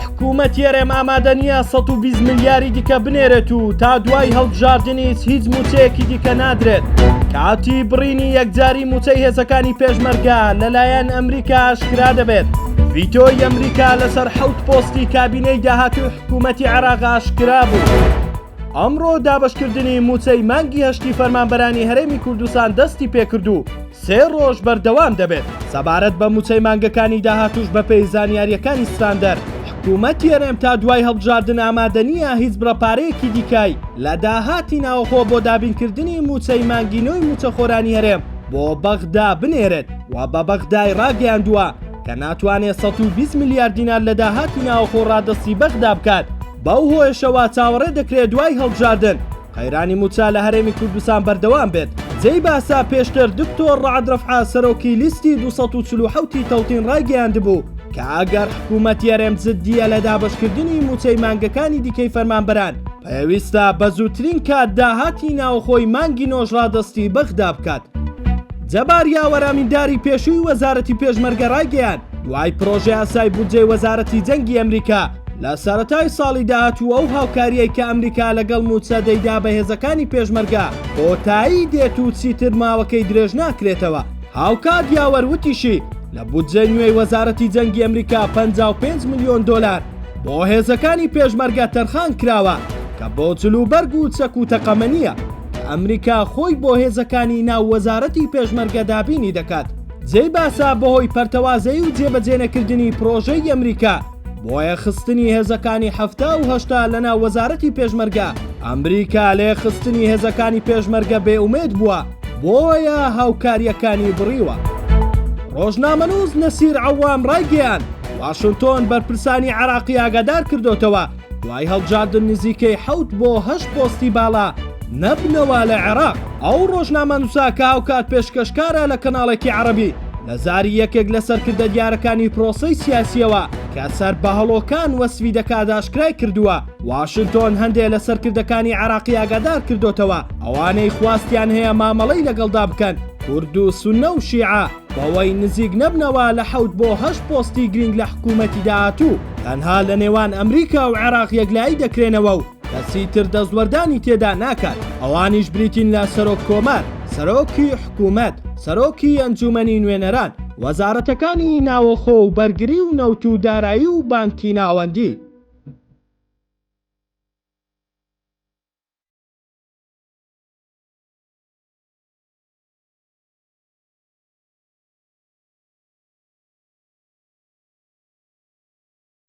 حکوومەتی هەرێم ئامادە نییە 120 ملیاری دیکە بنێرێت و تا دوای هەڵبژاردنیش هیچ موچەیەکی دیکە نادرێت کاتی بڕینی یەکجاری موچەی هێزەکانی پێشمەرگە لەلایەن ئەمریکا ئاشکرا دەبێت ڤیتۆی ئەمریکا لەسەر حەوت پۆستی کابینەی داهاتوی حکوومەتی عراق ئاشکرا بوو. ئەمڕۆ دابشکردنی موچەی مانگی هەشتی فەرمانبەرانی هەرێمی کوردستان دەستی پێکردو سێ ڕۆژ بەردەوام دەبێت. سەبارەت بە مووچەی مانگەکانی داهاتووش بەپێی زانیارییەکانی ستاندەر، حکوومەتی هەرێم تا دوای هەڵبژاردن ئامادە نییە هیچ بڕە پارەیەکی دیکەی لە داهاتی ناوەخۆ بۆ دابینکردنی مووچەی مانگی نۆی مووچەخۆرانی هەرێم بۆ بەغدا بنێرێت و بە بەغدای ڕاگەیاندووە کە ناتوانێت سەد و بیست ملیار دینار لە داهاتی ناوەخۆ ڕادەستی بەغدا بکات، بەو هۆیەشەوە چاوەڕێ دەکرێت دوای هەڵبژاردن. قەیرانی مووچە لە هەرێمی کوردستان بەردەوام بێت. جێی باسە پێشتر دکتۆر ڕەعد ڕەفعە سەرۆکی لیستی دوو سەد و چل و حەوت ی تەوتین ڕایگەیاندبوو کە ئەگەر حکوومەتی هەرێم جددییە لە دابەشکردنی مووچەی مانگەکانی دیکەی فەرمانبەران پێویستە بە زووترین کات داهاتی ناوخۆی مانگی نۆش ڕادەستی بەغدا بکات. جەبار یاوەر ئەمینداری پێشووی وەزارەتی پێشمەرگە ڕایگەیاند دوای پڕۆژەیاسای بودجەی وەزارەتی جەنگی ئەمریکا، لە سەرەتای ساڵی داهاتوو ئەو هاوکارییەی کە ئەمریکا لەگەڵ مووچە دەیدا بە هێزەکانی پێشمەرگە کۆتایی دێت و چیتر ماوەکەی درێژ ناکرێتەوە. هاوکات یاوەر وتیشی، لە بودجەی نوێی وەزارەتی جەنگی ئەمریکا پەنجا و پێنج ملیۆن دۆلار بۆ هێزەکانی پێشمەرگە تەرخان کراوە کە بۆ جلوبەرگ و چەک و تەقەمەنییە کە ئەمریکا خۆی بۆ هێزەکانی ناو وەزارەتی پێشمەرگە دابینی دەکات. جێی باسە بەهۆی پەرتەوازەیی و جێبەجێنەکردنی پڕۆژەی ئەمریکا، بۆیە خستنی هێزەکانی حەفتا و هەشتا لەناو وەزارەتی پێشمەرگە ئەمریکا لێ خستنی هێزەکانی پێشمەرگە بێ ئومێد بووە بۆیە هاوکاریەکانی بڕیوە. ڕۆژنامەنووس نەسیر عەوام ڕایگەیاند، واشنتۆن بەرپرسانی عێراقی ئاگادار کردۆتەوە دوای هەڵبژاردن نزیکەی حەوت بۆ هەشت پۆستی باڵا نەبنەوە لە عێراق. ئەو ڕۆژنامەنووسە کە هاوکات پێشکەشکارە لە کەناڵێکی عەڕەبی، لە زاری یەکێک لە سەرکردە دیارەکانی پرۆسەی سیاسییەوە کە سەر بە هەڵۆکان وەسفی دەکات ئاشکرای کردووە، واشنتۆن هەندێ لە سەرکردەکانی عێراقی ئاگادار کردۆتەوە ئەوانەی خواستیان هەیە مامەڵەی لەگەڵدا بکەن، کورد و سوننە و شیعە، بەوەی نزیک نەبنەوە لە حەوت بۆ هەشت پۆستی گرینگ لە حکوومەتی داهاتوو، تەنها لە نێوان ئەمریکا و عێراق یەکلایی دەکرێنەوە و کەسی تر دەستوەردانی تێدا ناکات، ئەوانیش بریتین لە سەرۆک کۆمار، سەرۆکی حکوومەت، سەرۆکی ئەنجوومەنی نوێنەران، وەزارەتەکانی ناوەخۆ و بەرگری و نەوت و دارایی و بانکی ناوەندی.